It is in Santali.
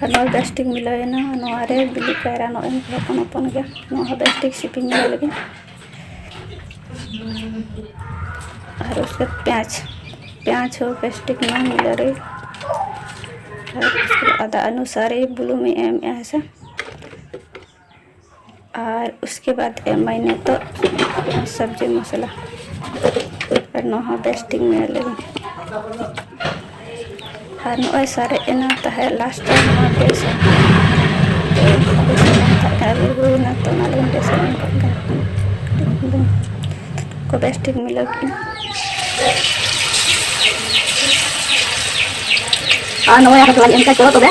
ᱱᱚᱜᱼᱚᱭ ᱵᱮᱥ ᱴᱷᱤᱠ ᱢᱤᱞᱟᱹᱣᱮᱱᱟ ᱱᱚᱣᱟ ᱨᱮ ᱵᱤᱞᱤ ᱠᱟᱭᱨᱟ ᱱᱚᱜᱼᱚᱭ ᱤᱧ ᱦᱚᱯᱚᱱ ᱦᱚᱯᱚᱱ ᱜᱮᱭᱟ ᱱᱚᱣᱟ ᱦᱚᱸ ᱵᱮᱥ ᱴᱷᱤᱠ ᱥᱤᱯᱤ ᱢᱤᱞᱟᱹᱣ ᱞᱮᱜᱮ ᱟᱨ ᱩᱥᱠᱮ ᱯᱮᱸᱭᱟᱡᱽ ᱯᱮᱸᱭᱟᱡᱽ ᱦᱚᱸ ᱵᱮᱥ ᱴᱷᱤᱠ ᱱᱚᱣᱟ ᱢᱤᱞᱟᱹᱣ ᱨᱮ ᱟᱨ ᱟᱫᱟ ᱚᱱᱩᱥᱟᱨ ᱵᱩᱞᱩᱝ ᱤᱧ ᱮᱢᱮᱜᱼᱟ ᱦᱮᱸ ᱥᱮ ᱟᱨ ᱩᱥᱠᱮ ᱵᱟᱫ ᱮᱢᱟᱭ ᱱᱤᱛᱚᱜ ᱥᱚᱵᱽᱡᱤ ᱢᱚᱥᱞᱟ ᱟᱨ ᱱᱚᱣᱟ ᱦᱚᱸ ᱵᱮᱥ ᱴᱷᱤᱠ ᱢᱮᱞ ᱞᱮᱜᱮ ᱟᱨ ᱱᱚᱜᱼᱚᱭ ᱥᱟᱨᱮᱡ ᱮᱱᱟ ᱛᱟᱦᱮᱸᱫ ᱞᱟᱥᱴ ᱨᱮ ᱱᱚᱣᱟ ᱵᱮᱥ ᱟᱹᱞᱩ ᱦᱩᱭᱱᱟ ᱛᱚ ᱚᱱᱟ ᱞᱟᱹᱜᱤᱫ ᱵᱮᱥ ᱮᱢ ᱠᱟᱜ ᱠᱟᱱᱟ ᱠᱚ ᱵᱮᱥ ᱴᱷᱤᱠ ᱢᱤᱞᱟᱹᱣ ᱠᱮᱫᱼᱟ ᱟᱨ ᱱᱚᱜᱼᱚᱭ ᱟᱨᱦᱚᱸ ᱛᱷᱚᱲᱟᱧ ᱮᱢ ᱠᱟᱜᱼᱟ ᱪᱚᱞᱚ ᱛᱚᱵᱮ